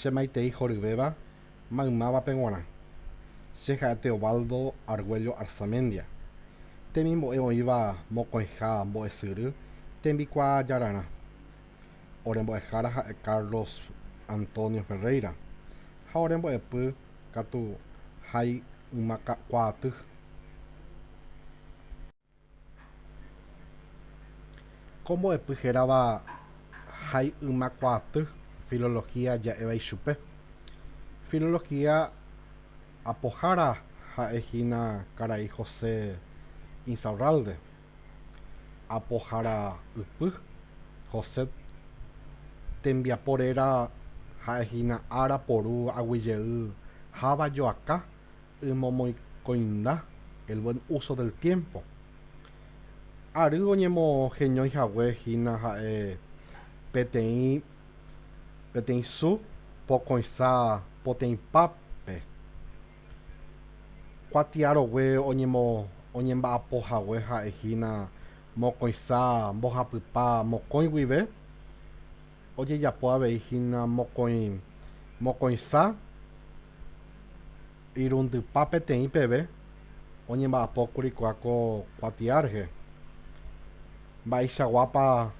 Che maitei horyvéva maymávape g̃uarã. Che ha'e Teobaldo Argüello Arzamendia. Temimbo'e oĩva mokõiha mbo'esyry tembikuaa jararã. Ore mbo'ehára ha'e Carlos Antonio Ferreira ha ore mbo'epy katu ha'e yma kuaaty. Ko mbo'epy hérava Hái Yma Kuaaty filología ja'éva ichupe. Filología apohára ha'e hína karai José Insaurralde, apoharaypy, José tembiapo réra ha'e hína ára poru aguijey háva joaka Ymomoĩkoinda, el buen uso del tiempo, ary oñemoheñói hague hína ha'e peteĩ peteĩ su pokõicha poteĩpápe, kuatiarogue oñemo oñemba'apo hague ha'e hína mokõicha mbohapypa mokõi guive, Ojejapo avei hína mokõi mokõiha irundypa peteĩ peve oñemba'apókuri kua ko kuatia rehe. Mba'eichaguápa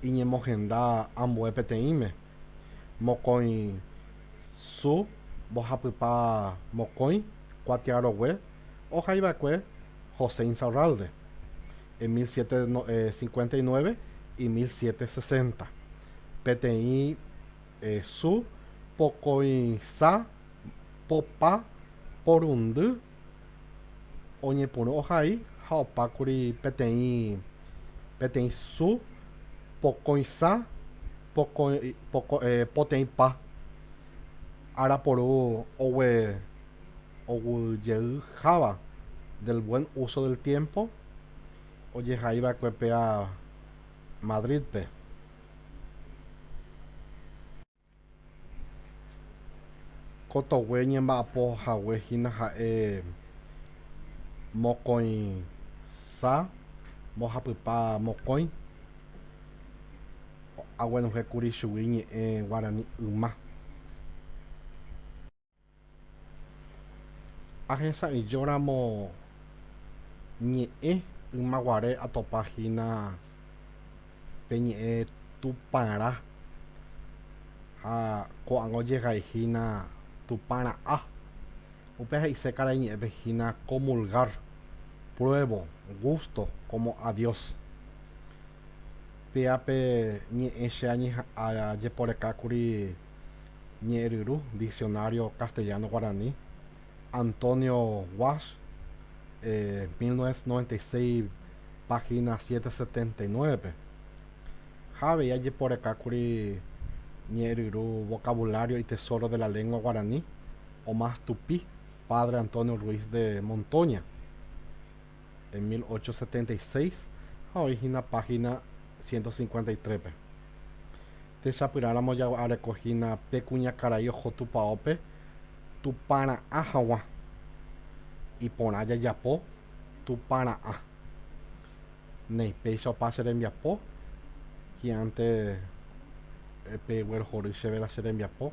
iñemohenda ambue peteĩme? Mokõi su mbohapypa mokõi kuatiarogue ohaiva'ekue José Insaurralde. en mil siete cincuenta y nueve y mil siete sesenta, peteĩ su pokõicha popa porundy oñepyrũ ohai ha opákuri peteĩ peteĩ su pokõicha pokõi poko poteĩpa. Ára puru ogue oguejeyháva del buen uso del tiempo ojehaiva'ekue péa Madrid-pe. Ko togue ñemba'apo hague hína ha'e mokõisa mbohapypa mokõi. aguenohẽkuri chugui ñe'ẽ guarani yma. Ahesa'ỹijóramo ñe'ẽ ymaguare atopa hína pe ñe'ẽ Tupãra ha ko'ág̃a ojegai hína Tupãra'á. Upéva he'ise karai ñe'ẽpe hína comulgar, pruebo, gusto, como a Dios. Péa pe ñe'ẽ che ajeporekákuri Ñe'ẽryru, Diccionario castellano-guaraní, Antonio Walsh, mil novecientos noventa y seis, página ciento setenta y nueve-pe. Ha avei ajeporekákuri Ñe'ẽryru Vocabulario y Tesoro de la Lengua Guaraní, Omas Tupí, Padre Antonio Ruiz de Montoña. en 1876 ha oĩ hína página 153-pe. Techapyrãramo jagua'areko hína pe kuñakarai oho tupaópe tupara'ã haguã, iporã jajapo tupara'ã. Néi, péicha opa che rembiapo, hi'ãnte pe guerohory chéve la che rembiapo.